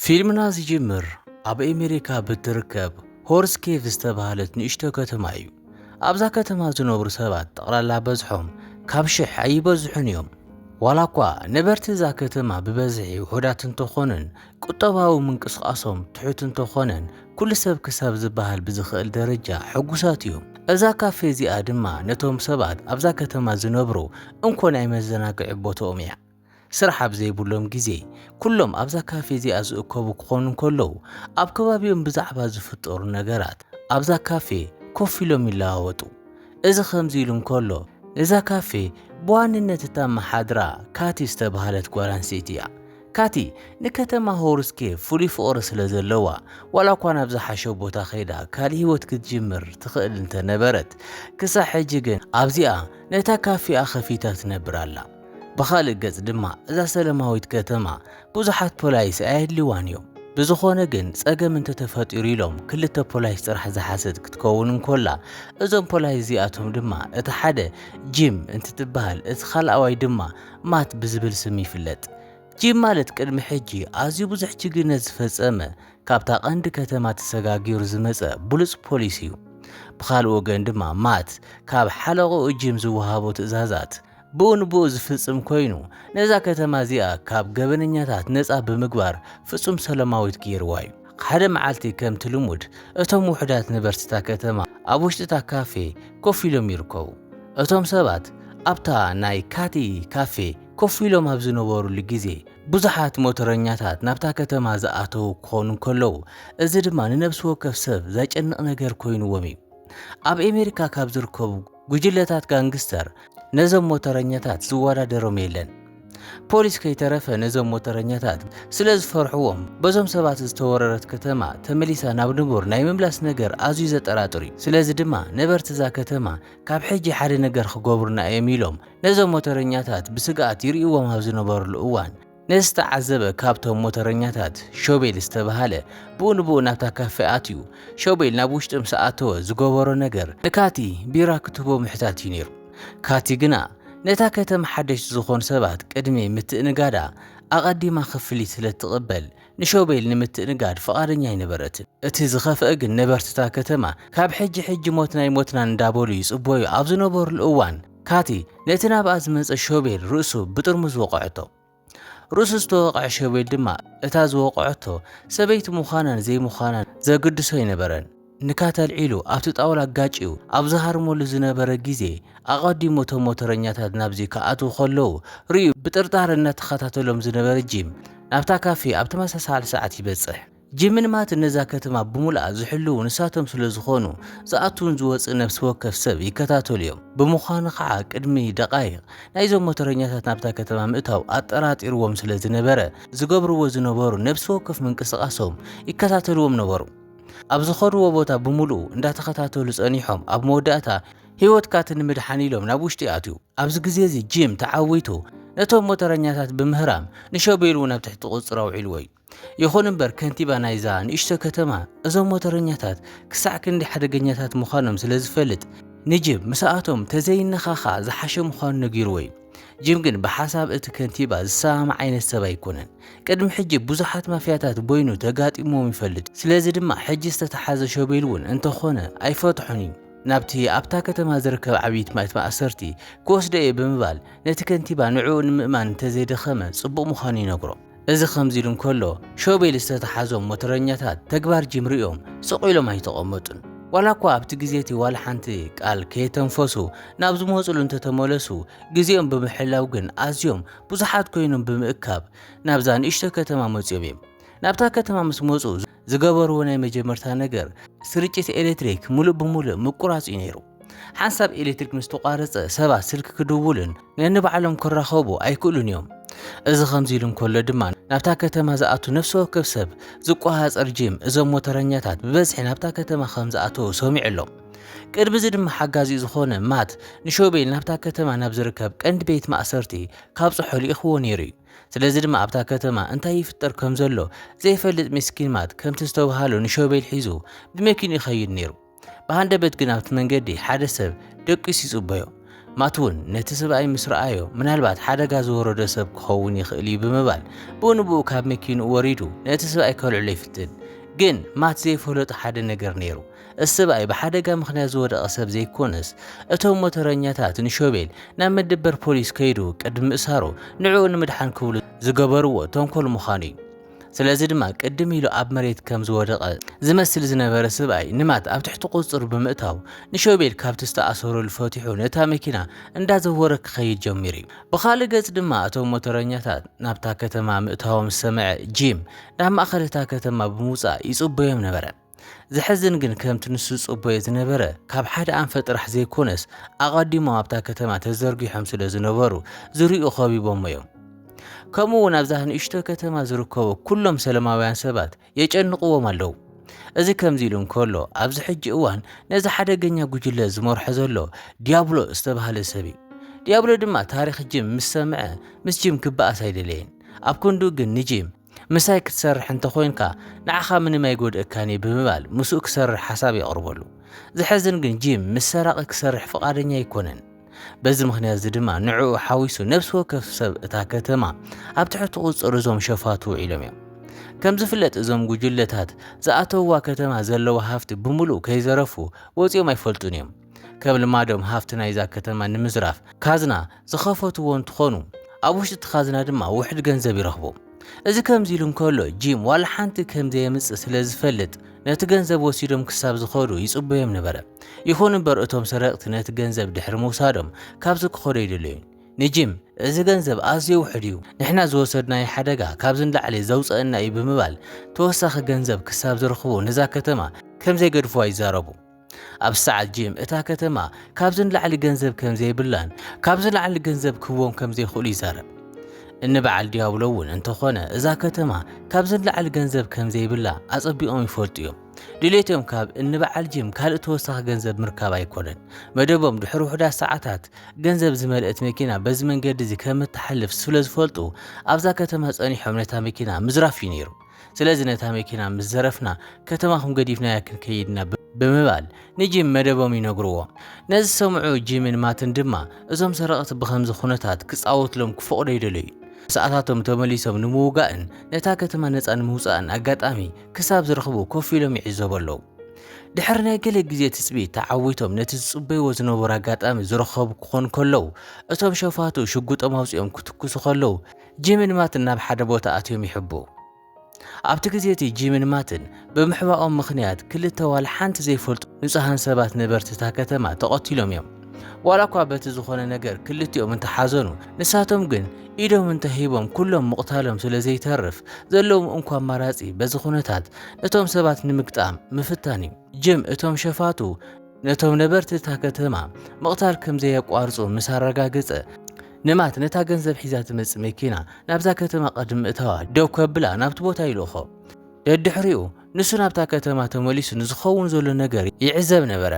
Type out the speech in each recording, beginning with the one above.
ፊልምና ዝጅምር ኣብ ኣሜሪካ ብትርከብ ሆርስ ኬቭ ዝተባህለት ንእሽቶ ከተማ እዩ። ኣብዛ ከተማ ዝነብሩ ሰባት ጠቕላላ በዝሖም ካብ ሽሕ ኣይበዝሑን እዮም። ዋላ እኳ ነበርቲ እዛ ከተማ ብበዝሒ ውሑዳት እንተኾኑን ቁጠባዊ ምንቅስቓሶም ትሑት እንተኾነን ኩሉ ሰብ ክሳብ ዝበሃል ብዝኽእል ደረጃ ሕጉሳት እዮም። እዛ ካፌ እዚኣ ድማ ነቶም ሰባት ኣብዛ ከተማ ዝነብሩ እንኮ ናይ መዘናግዒ ቦትኦም እያ። ስራሕ ኣብ ዘይብሎም ግዜ፣ ኩሎም ኣብዛ ካፌ እዚኣ ዝእከቡ ክኾኑ እንከለዉ፣ ኣብ ከባቢኦም ብዛዕባ ዝፍጠሩ ነገራት ኣብዛ ካፌ ኮፍ ኢሎም ይለዋወጡ። እዚ ከምዚ ኢሉ እንከሎ፣ እዛ ካፌ ብዋንነት እተመሓድራ ካቲ ዝተባህለት ጓል ኣንስተይቲ እያ። ካቲ ንከተማ ሆርስኬ ፍሉይ ፍቕሪ ስለ ዘለዋ፣ ዋላኳ ናብ ዝሓሸ ቦታ ከይዳ ካልእ ህይወት ክትጅምር ትኽእል እንተ ነበረት፣ ክሳዕ ሕጂ ግን ኣብዚኣ ነታ ካፌኣ ከፊታ ትነብር ኣላ። ብኻልእ ገጽ ድማ እዛ ሰለማዊት ከተማ ብዙሓት ፖላይስ ኣየድልዋን እዮም። ብዝኾነ ግን ጸገም እንተተፈጢሩ ኢሎም ክልተ ፖላይስ ጥራሕ ዝሓሰት ክትከውን እንኮላ እዞም ፖላይስ እዚኣቶም ድማ እቲ ሓደ ጂም እንትትበሃል እቲ ካልኣዋይ ድማ ማት ብዝብል ስም ይፍለጥ። ጂም ማለት ቅድሚ ሕጂ ኣዝዩ ብዙሕ ጅግነት ዝፈጸመ ካብታ ቀንዲ ከተማ ተሰጋጊሩ ዝመጸ ብሉጽ ፖሊስ እዩ። ብኻልእ ወገን ድማ ማት ካብ ሓለቕኡ ጂም ዝወሃቦ ትእዛዛት ብኡ ንብኡ ዝፍጽም ኮይኑ ነዛ ከተማ እዚኣ ካብ ገበነኛታት ነጻ ብምግባር ፍጹም ሰለማዊት ገይርዋ እዩ። ሓደ መዓልቲ ከምቲ ልሙድ እቶም ውሑዳት ነበርቲ እታ ከተማ ኣብ ውሽጢ እታ ካፌ ኮፍ ኢሎም ይርከቡ። እቶም ሰባት ኣብታ ናይ ካቲ ካፌ ኮፍ ኢሎም ኣብ ዝነበሩሉ ግዜ ብዙሓት ሞተረኛታት ናብታ ከተማ ዝኣተዉ ክኾኑ እንከለዉ እዚ ድማ ንነብሲ ወከፍ ሰብ ዘጨንቕ ነገር ኮይንዎም እዩ። ኣብ ኤሜሪካ ካብ ዝርከቡ ጉጅለታት ጋንግስተር ነዞም ሞተረኛታት ዝወዳደሮም የለን። ፖሊስ ከይተረፈ ነዞም ሞተረኛታት ስለ ዝፈርሕዎም በዞም ሰባት ዝተወረረት ከተማ ተመሊሳ ናብ ንቡር ናይ ምምላስ ነገር ኣዝዩ ዘጠራጥር እዩ። ስለዚ ድማ ነበርቲ እዛ ከተማ ካብ ሕጂ ሓደ ነገር ክገብሩና እዮም ኢሎም ነዞም ሞተረኛታት ብስግኣት ይርእይዎም ኣብ ዝነበርሉ እዋን ንዝተዓዘበ ካብቶም ሞተረኛታት ሾቤል ዝተብሃለ ብኡ ንብኡ ናብታ ካፌ ኣትዩ። ሾቤል ናብ ውሽጢ ምስ ኣተወ ዝገበሮ ነገር ንካቲ ቢራ ክትህቦ ምሕታት እዩ ነይሩ። ካቲ ግና ነታ ከተማ ሓደሽቲ ዝኾኑ ሰባት ቅድሚ ምትእንጋዳ ኣቐዲማ ክፍሊት ስለ እትቕበል ንሾቤል ንምትእንጋድ ፍቓደኛ ኣይነበረትን። እቲ ዝኸፍኣ ግን ነበርቲ'ታ ከተማ ካብ ሕጂ ሕጂ ሞትና ይሞትና እንዳበሉ ይጽበዩ ኣብ ዝነበሩሉ እዋን፣ ካቲ ነቲ ናብኣ ዝመጸ ሾቤል ርእሱ ብጥርሙዝ ወቐዐቶ። ርእሱ ዝተወቕዐ ሾቤል ድማ እታ ዝወቐዐቶ ሰበይቲ ምዃናን ዘይምዃናን ዘግድሶ ኣይነበረን። ንካቲ ኣልዒሉ ኣብቲ ጣውላ ኣጋጭዩ ኣብ ዝሃርመሉ ዝነበረ ግዜ ኣቐዲሙ እቶም ሞተረኛታት ናብዚ ክኣትዉ ከለዉ ርእዩ ብጥርጣረ እናተኸታተሎም ዝነበረ ጂም ናብታ ካፌ ኣብ ተመሳሳሊ ሰዓት ይበጽሕ። ጂምን ማትን ነዛ ከተማ ብምሉኣ ዝሕልዉ ንሳቶም ስለ ዝኾኑ፣ ዝኣቱን ዝወጽእን ነፍሲ ወከፍ ሰብ ይከታተሉ እዮም። ብምዃኑ ኸኣ ቅድሚ ደቓይቕ፣ ናይዞም ሞተረኛታት ናብታ ከተማ ምእታው ኣጠራጢርዎም ስለ ዝነበረ፣ ዝገብርዎ ዝነበሩ ነፍሲ ወከፍ ምንቅስቓሶም ይከታተልዎም ነበሩ። ኣብ ዝኸድዎ ቦታ ብምሉኡ እንዳተኸታተሉ ጸኒሖም ኣብ መወዳእታ፣ ህይወትካት ንምድሓን ኢሎም ናብ ውሽጢ ኣትዩ። ኣብዚ ግዜ'ዚ ጂም ተዓዊቱ ነቶም ሞተረኛታት ብምህራም ንሾቤል እውን ኣብ ትሕቲ ቁጽጽሩ ኣውዒልዎ እዩ። ይኹን እምበር ከንቲባ ናይዛ ንእሽቶ ከተማ እዞም ሞተረኛታት ክሳዕ ክንዲ ሓደገኛታት ምዃኖም ስለ ዝፈልጥ ንጅም ምስኣቶም ተዘይነኻኻ ዝሓሸ ምዃኑ ነጊርዎ እዩ። ጅም ግን ብሓሳብ እቲ ከንቲባ ዝሰማማዕ ዓይነት ሰብ ኣይኮነን። ቅድሚ ሕጂ ብዙሓት ማፍያታት ቦይኑ ተጋጢምዎም ይፈልጥ፣ ስለዚ ድማ ሕጂ ዝተተሓዘ ሾቤል እውን እንተኾነ ኣይፈትሖን እዩ። ናብቲ ኣብታ ከተማ ዝርከብ ዓብይቲ ማእት ማእሰርቲ ክወስዶ እየ ብምባል ነቲ ከንቲባ ንዕኡ ንምእማን እንተዘይደኸመ ጽቡቕ ምዃኑ ይነግሮ። እዚ ከምዚ ኢሉ እንከሎ ሾቤል ዝተተሓዞም ሞተረኛታት ተግባር ጂም ርእዮም ስቕ ኢሎም ኣይተቐመጡን። ዋላ እኳ ኣብቲ ግዜ እቲ ዋላ ሓንቲ ቃል ከየተንፈሱ ናብ ዝመጽሉ እንተተመለሱ ግዜኦም ብምሕላው ግን ኣዝዮም ብዙሓት ኮይኖም ብምእካብ ናብዛ ንእሽቶ ከተማ መጽዮም እዮም። ናብታ ከተማ ምስ መጹ ዝገበርዎ ናይ መጀመርታ ነገር ስርጭት ኤሌክትሪክ ምሉእ ብምሉእ ምቁራጽ እዩ ነይሩ። ሓንሳብ ኤሌክትሪክ ምስ ተቋረፀ ሰባት ስልኪ ክድውሉን ነንባዕሎም ክራኸቡ ኣይክእሉን እዮም። እዚ ከምዚ ኢሉ እንከሎ ድማ ናብታ ከተማ ዝኣቱ ነፍሲ ወከፍ ሰብ ዝቆሃፀር ጂም እዞም ሞተረኛታት ብበዝሒ ናብታ ከተማ ከም ዝኣተዉ ሰሚዑ ኣሎ። ቅድሚ እዚ ድማ ሓጋዚኡ ዝኾነ ማት ንሾቤል ናብታ ከተማ ናብ ዝርከብ ቀንዲ ቤት ማእሰርቲ ካብ ጽሖ ልኢኽዎ ነይሩ እዩ። ስለዚ ድማ ኣብታ ከተማ እንታይ ይፍጠር ከም ዘሎ ዘይፈልጥ ሚስኪን ማት ከምቲ ዝተብሃሎ ንሾቤል ሒዙ ብመኪኑ ይኸይድ ነይሩ። ብሃንደበት ግን ኣብቲ መንገዲ ሓደ ሰብ ደቂሱ ይጽበዮ። ማት እውን ነቲ ስብኣይ ምስ ረኣዮ ምናልባት ሓደጋ ዝወረዶ ሰብ ክኸውን ይኽእል እዩ ብምባል ብኡንብኡ ካብ መኪንኡ ወሪዱ ነቲ ስብኣይ ከልዕሎ ይፍትን። ግን ማት ዘይፈለጡ ሓደ ነገር ነይሩ። እቲ ስብኣይ ብሓደጋ ምክንያት ዝወደቐ ሰብ ዘይኮነስ እቶም ሞተረኛታት ንሾቤል ናብ መደበር ፖሊስ ከይዱ ቅድሚ ምእሳሩ ንዕኡ ንምድሓን ክብሉ ዝገበርዎ ተንኮል ምዃኑ እዩ። ስለዚ ድማ ቅድም ኢሉ ኣብ መሬት ከም ዝወደቐ ዝመስል ዝነበረ ስብኣይ ንማት ኣብ ትሕቲ ቁጽሩ ብምእታው ንሾቤል ካብቲ ዝተኣሰረሉ ፈቲሑ ነታ መኪና እንዳዘወረ ክኸይድ ጀሚሩ እዩ። ብኻልእ ገጽ ድማ እቶም ሞተረኛታት ናብታ ከተማ ምእታዎም ዝሰምዐ ጂም ናብ ማእከል እታ ከተማ ብምውጻእ ይጽበዮም ነበረ። ዘሕዝን ግን ከምቲ ንሱ ዝጽበዮ ዝነበረ ካብ ሓደ ኣንፈት ጥራሕ ዘይኮነስ ኣቐዲሞም ኣብታ ከተማ ተዘርጊሖም ስለ ዝነበሩ ዝርኡ ከቢቦሞ እዮም። ከምኡ እውን ኣብዛ ንእሽቶ ከተማ ዝርከቡ ኩሎም ሰለማውያን ሰባት የጨንቕዎም ኣለዉ። እዚ ከምዚ ኢሉ እንከሎ ኣብዚ ሕጂ እዋን ነዚ ሓደገኛ ጉጅለ ዝመርሖ ዘሎ ዲያብሎ ዝተባህለ ሰብ እዩ። ዲያብሎ ድማ ታሪኽ ጂም ምስ ሰምዐ ምስ ጂም ክበኣስ ኣይደለየን። ኣብ ክንዱ ግን ንጂም ምሳይ ክትሰርሕ እንተ ኾይንካ ንዓኻ ምንም ኣይጎድእካን እዩ ብምባል ምስኡ ክሰርሕ ሓሳብ የቕርበሉ። ዘሕዝን ግን ጂም ምስ ሰራቒ ክሰርሕ ፍቓደኛ ኣይኮነን። በዚ ምኽንያት እዚ ድማ ንዕኡ ሓዊሱ ነብሲ ወከፍ ሰብ እታ ከተማ ኣብ ትሕቲ ቁጽጽር እዞም ሸፋቱ ውዒሎም እዮም። ከም ዝፍለጥ እዞም ጉጅለታት ዝኣተውዋ ከተማ ዘለዋ ሃፍቲ ብምሉእ ከይዘረፉ ወጺኦም ኣይፈልጡን እዮም። ከም ልማዶም ሃፍቲ ናይዛ ከተማ ንምዝራፍ ካዝና ዝኸፈትዎ እንትኾኑ ኣብ ውሽጢ እቲ ካዝና ድማ ውሕድ ገንዘብ ይረኽቡ። እዚ ከምዚ ኢሉ እንከሎ ጂም ዋላ ሓንቲ ከም ዘየምጽእ ስለ ዝፈልጥ ነቲ ገንዘብ ወሲዶም ክሳብ ዝኸዱ ይጽበዮም ነበረ። ይኹን እምበር እቶም ሰረቕቲ ነቲ ገንዘብ ድሕሪ ምውሳዶም ካብዚ ክኸዱ ኣይደለዩን። ንጂም እዚ ገንዘብ ኣዝዩ ውሕድ እዩ፣ ንሕና ዝወሰድናዮ ሓደጋ ካብዚ ንላዕሊ ዘውጸኣና እዩ ብምባል ተወሳኺ ገንዘብ ክሳብ ዝረኽቡ ነዛ ከተማ ከም ዘይገድፍዋ ይዛረቡ። ኣብ ሰዓት ጂም እታ ከተማ ካብዚ ንላዕሊ ገንዘብ ከም ዘይብላን ካብዚ ንላዕሊ ገንዘብ ክህቦም ከም ዘይኽእሉ ይዛረብ። እኒ በዓል ዲያብሎ እውን እንተኾነ እዛ ከተማ ካብዚ ንላዕሊ ገንዘብ ከም ዘይብላ ኣጸቢቖም ይፈልጡ እዮም። ድሌቶም ካብ እኒ በዓል ጂም ካልእ ተወሳኺ ገንዘብ ምርካብ ኣይኮነን። መደቦም ድሕሪ ውሑዳት ሰዓታት ገንዘብ ዝመልእት መኪና በዚ መንገዲ እዚ ከም እትሓልፍ ስለ ዝፈልጡ ኣብዛ ከተማ ጸኒሖም ነታ መኪና ምዝራፍ እዩ ነይሩ። ስለዚ ነታ መኪና ምስ ዘረፍና ከተማኹም ገዲፍናያ ክንከይድ ኢና ብምባል ንጂም መደቦም ይነግርዎ። ነዚ ዝሰምዑ ጂምን ማትን ድማ እዞም ሰረቕቲ ብኸምዚ ኩነታት ክጻወትሎም ክፈቕዱ ኣይደለዩን። ሰዓታቶም ተመሊሶም ንምውጋእን ነታ ከተማ ነጻ ንምውጻእን ኣጋጣሚ ክሳብ ዝረኽቡ ኮፍ ኢሎም ይዕዘቡ ኣለዉ። ድሕሪ ናይ ገለ ግዜ ትጽቢት ተዓዊቶም ነቲ ዝጽበይዎ ዝነበሩ ኣጋጣሚ ዝረኸቡ ክኾኑ ከለዉ እቶም ሸፋቱ ሽጉጦም ኣውጺኦም ክትኩሱ ከለዉ ጂምን ማትን ናብ ሓደ ቦታ ኣትዮም ይሕብኡ። ኣብቲ ግዜ እቲ ጂምን ማትን ብምሕባኦም ምኽንያት ክልተ ዋላ ሓንቲ ዘይፈልጡ ንጹሃን ሰባት ነበርቲ እታ ከተማ ተቐቲሎም እዮም። ዋላ እኳ በቲ ዝኾነ ነገር ክልቲኦም እንተሓዘኑ ንሳቶም ግን ኢዶም እንተሂቦም ኩሎም ምቕታሎም ስለ ዘይተርፍ ዘለዎም እንኳ ኣማራጺ በዚ ኩነታት ነቶም ሰባት ንምግጣም ምፍታን እዩ። ጂም እቶም ሸፋቱ ነቶም ነበርቲ እታ ከተማ ምቕታል ከም ዘየቋርጹ ምስ ኣረጋገጸ፣ ንማት ነታ ገንዘብ ሒዛ ትመጽእ መኪና ናብዛ ከተማ ቅድሚ ምእታዋ ደው ከብላ ናብቲ ቦታ ይልእኾ። ደድሕሪኡ ንሱ ናብታ ከተማ ተመሊሱ ንዝኸውን ዘሎ ነገር ይዕዘብ ነበረ።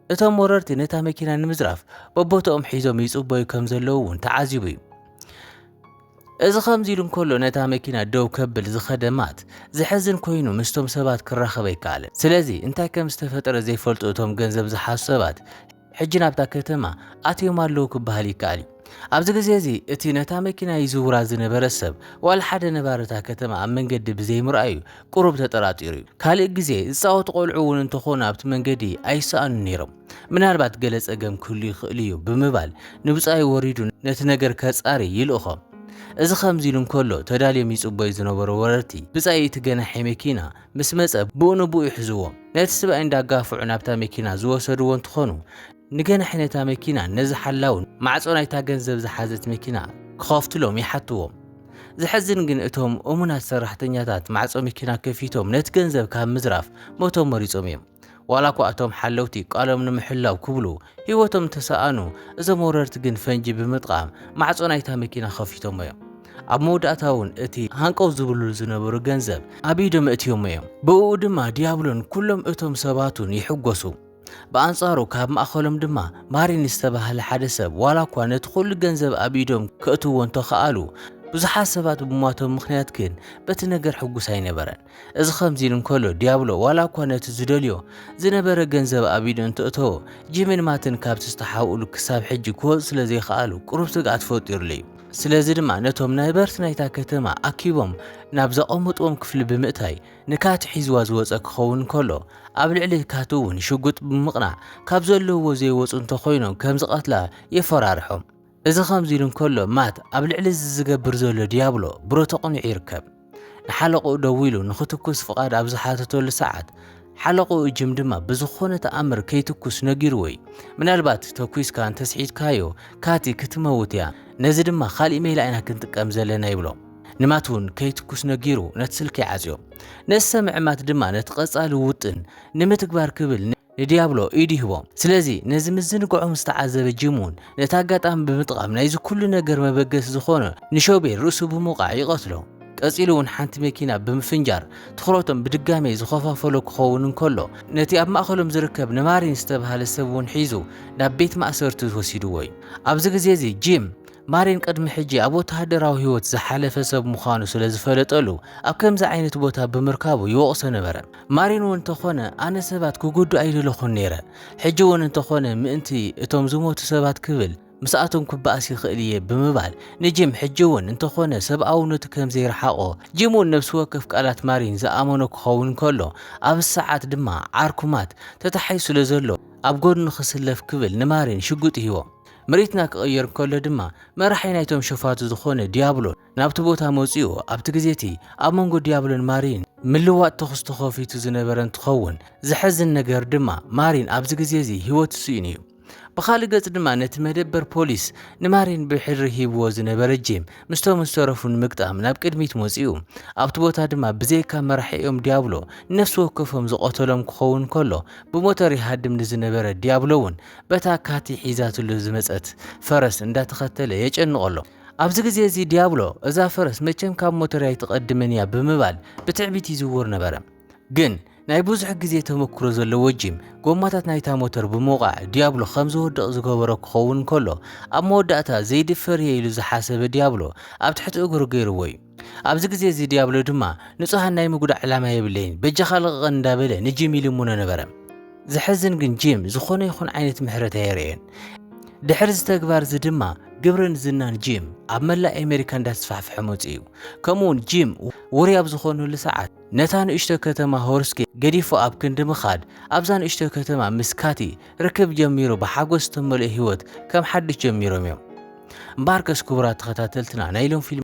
እቶም ወረርቲ ነታ መኪና ንምዝራፍ በቦታኦም ሒዞም ይጽበዩ ከም ዘለዉ እውን ተዓዚቡ እዩ። እዚ ከምዚ ኢሉ እንከሎ ነታ መኪና ደው ከብል ዝኸደ ማት ዘሕዝን ኮይኑ ምስቶም ሰባት ክራኸብ ኣይከኣለን። ስለዚ እንታይ ከም ዝተፈጠረ ዘይፈልጡ እቶም ገንዘብ ዝሓዙ ሰባት ሕጂ ናብታ ከተማ ኣትዮም ኣለዉ ክበሃል ይከኣል እዩ። ኣብዚ ግዜ እዚ እቲ ነታ መኪና ይዝውራ ዝነበረ ሰብ ዋላ ሓደ ነባሪ እታ ከተማ ኣብ መንገዲ ብዘይምርኣዩ ቁሩብ ተጠራጢሩ እዩ። ካልእ ግዜ ዝጻወቱ ቆልዑ እውን እንተኾኑ ኣብቲ መንገዲ ኣይሰኣኑን ነይሮም። ምናልባት ገለ ጸገም ክህሉ ይኽእል እዩ ብምባል ንብጻዩ ወሪዱ ነቲ ነገር ከጻሪ ይልእኾ። እዚ ከምዚ ኢሉ እንከሎ ተዳልዮም ይጽበዩ ዝነበሩ ወረርቲ ብጻይ እቲ ገናሒ መኪና ምስ መጸ ብኡ ንብኡ ይሕዝዎ ነቲ ስብኣይ እንዳጋፍዑ ናብታ መኪና ዝወሰድዎ እንትኾኑ ንገናሒ ነታ መኪናን ነዚ ሓላውን ማዕጾ ናይታ ገንዘብ ዝሓዘት መኪና ክኸፍትሎም ይሓትዎም። ዘሕዝን ግን እቶም እሙናት ሰራሕተኛታት ማዕጾ መኪና ከፊቶም ነቲ ገንዘብ ካብ ምዝራፍ ሞቶም መሪጾም እዮም። ዋላኳ እቶም ሓለውቲ ቃሎም ንምሕላው ክብሉ ህይወቶም እንተሰኣኑ እዞም ወረርቲ ግን ፈንጂ ብምጥቓም ማዕፆ ናይታ መኪና ከፊቶሞ እዮም። ኣብ መወዳእታ እውን እቲ ሃንቀው ዝብልሉ ዝነበሩ ገንዘብ ኣብ ኢዶም እእትዮሞ እዮም። ብእኡ ድማ ዲያብሎን ኩሎም እቶም ሰባቱን ይሕጎሱ። ብኣንፃሩ ካብ ማእኸሎም ድማ ማሪን ዝተባህለ ሓደ ሰብ ዋላኳ ነቲ ኩሉ ገንዘብ ኣብ ኢዶም ከእትዎ እንተኸኣሉ ብዙሓት ሰባት ብሟቶም ምኽንያት ግን በቲ ነገር ሕጉስ ኣይነበረን። እዚ ከምዚ ኢሉ እንከሎ ዲያብሎ ዋላ እኳ ነቲ ዝደልዮ ዝነበረ ገንዘብ ኣብ ኢዱ እንተእተዎ፣ ጂምን ማትን ካብቲ ዝተሓብኡሉ ክሳብ ሕጂ ክወጹ ስለ ዘይከኣሉ ቅሩብ ስግኣት ፈጢሩሉ እዩ። ስለዚ ድማ ነቶም ናይበርት ናይታ ከተማ ኣኪቦም ናብ ዘቐመጥዎም ክፍሊ ብምእታይ ንካት ሒዝዋ ዝወጸ ክኸውን እንከሎ፣ ኣብ ልዕሊ ካት እውን ሽጉጥ ብምቕናዕ ካብ ዘለውዎ ዘይወጹ እንተኾይኖም ከም ዝቐትላ የፈራርሖም። እዚ ከምዚ ኢሉ እንከሎ ማት ኣብ ልዕሊ እዚ ዝገብር ዘሎ ዲያብሎ ብሮ ተቐኒዑ ይርከብ። ንሓለቕኡ ደዊሉ ንኽትኩስ ፍቓድ ኣብ ዝሓተተሉ ሰዓት ሓለቕኡ ጅም ድማ ብዝኾነ ተኣምር ከይትኩስ ነጊርዎ እዩ። ምናልባት ተኲስካ እንተስሒትካዮ ካቲ ክትመውት እያ፣ ነዚ ድማ ካልእ ሜላ ኢና ክንጥቀም ዘለና ይብሎ። ንማት እውን ከይትኩስ ነጊሩ ነቲ ስልኪ ይዓጽዮ። ነቲ ሰምዒ ማት ድማ ነቲ ቀጻሊ ውጥን ንምትግባር ክብል ንዲያብሎ ኢድ ይህቦ። ስለዚ ነዚ ምዝንጋዖም ዝተዓዘበ ጂምውን ነቲ ኣጋጣሚ ብምጥቓም ናይዚ ኩሉ ነገር መበገሲ ዝኾኖ ንሾቤል ርእሱ ብምውቃዕ ይቐትሎ። ቀጺሉውን ሓንቲ መኪና ብምፍንጃር ትኹረቶም ብድጋሜ ዝኸፋፈሎ ክኸውን እንከሎ ነቲ ኣብ ማእከሎም ዝርከብ ንማሪን ዝተባህለ ሰብውን ሒዙ ናብ ቤት ማእሰርቲ ወሲድዎ እዩ። ኣብዚ ግዜ እዚ ጂም ማሪን ቅድሚ ሕጂ ኣብ ወተሃደራዊ ህይወት ዝሓለፈ ሰብ ምዃኑ ስለ ዝፈለጠሉ ኣብ ከምዚ ዓይነት ቦታ ብምርካቡ ይወቕሶ ነበረ። ማሪን እውን እንተኾነ ኣነ ሰባት ክጉዱ ኣይደለኹን ነይረ፣ ሕጂ እውን እንተኾነ ምእንቲ እቶም ዝሞቱ ሰባት ክብል ምስኣቶም ክበኣስ ይኽእል እየ ብምባል ንጂም ሕጂ እውን እንተኾነ ሰብኣውነቱ ከም ዘይረሓቖ ጂም እውን ነብሲ ወከፍ ቃላት ማሪን ዝኣመኖ ክኸውን ከሎ ኣብ ሰዓት ድማ ዓርኩ ማት ተታሒዙ ስለ ዘሎ ኣብ ጎድኑ ክስለፍ ክብል ንማሪን ሽጉጥ ይህቦ። ምርኢትና ክቕየር ከሎ ድማ መራሒ ናይቶም ሸፋቱ ዝኾነ ዲያብሎስ ናብቲ ቦታ መጺኡ ኣብቲ ግዜቲ ኣብ መንጎ ዲያብሎን ማሪን ምልዋጥ ተኹስ ተኸፊቱ ዝነበረ እንትኸውን ዘሐዝን ነገር ድማ ማሪን ኣብዚ ግዜ እዚ ህይወቱ ስኢኑ እዩ። ብኻልእ ገጽ ድማ ነቲ መደበር ፖሊስ ንማሪን ብሕድሪ ሂብዎ ዝነበረ ጂም ምስቶም ዝተረፉ ንምግጣም ናብ ቅድሚት መጺኡ። ኣብቲ ቦታ ድማ ብዘይካ መራሒኦም ዲያብሎ ነፍሲ ወከፎም ዝቐተሎም ክኸውን ከሎ ብሞተር ይሃድም ንዝነበረ ዲያብሎ እውን በታ ካቲ ሒዛትሉ ዝመጸት ፈረስ እንዳተኸተለ የጨንቐሎ። ኣብዚ ግዜ እዚ ዲያብሎ እዛ ፈረስ መቸም ካብ ሞተርያ ኣይትቐድምን እያ ብምባል ብትዕቢት ይዝውር ነበረ። ግን ናይ ብዙሕ ግዜ ተመክሮ ዘለዎ ጂም ጎማታት ናይታ ሞተር ብምውቓዕ ዲያብሎ ከም ዝወድቕ ዝገበሮ ክኸውን ከሎ ኣብ መወዳእታ ዘይድፈር እየ ኢሉ ዝሓሰበ ዲያብሎ ኣብ ትሕቲ እግሩ ገይርዎ እዩ። ኣብዚ ግዜ እዚ ዲያብሎ ድማ ንጹሃን ናይ ምጉዳእ ዕላማ የብለይን በጃኻ ልቐቐን እንዳበለ ንጂም ይልምኖ ነበረ። ዘሕዝን ግን ጂም ዝኾነ ይኹን ዓይነት ምሕረት ኣየርእዮን። ድሕሪ እዚ ተግባር እዚ ድማ ግብርን ዝናን ጂም ኣብ መላእ ኣሜሪካ እንዳተስፋሕፍሐ መጺኡ። ከምኡውን ጂም ውሩይ ኣብ ዝኾነሉ ሰዓት ነታ ንእሽቶ ከተማ ሆርስኪ ገዲፉ ኣብ ክንዲ ምኻድ ኣብዛ ንእሽቶ ከተማ ምስ ካቲ ርክብ ጀሚሩ ብሓጎስ ዝተመልኦ ህይወት ከም ሓድሽ ጀሚሮም እዮም። እምበኣርከስ ክቡራት ተኸታተልትና ናይ ሎም ፊልም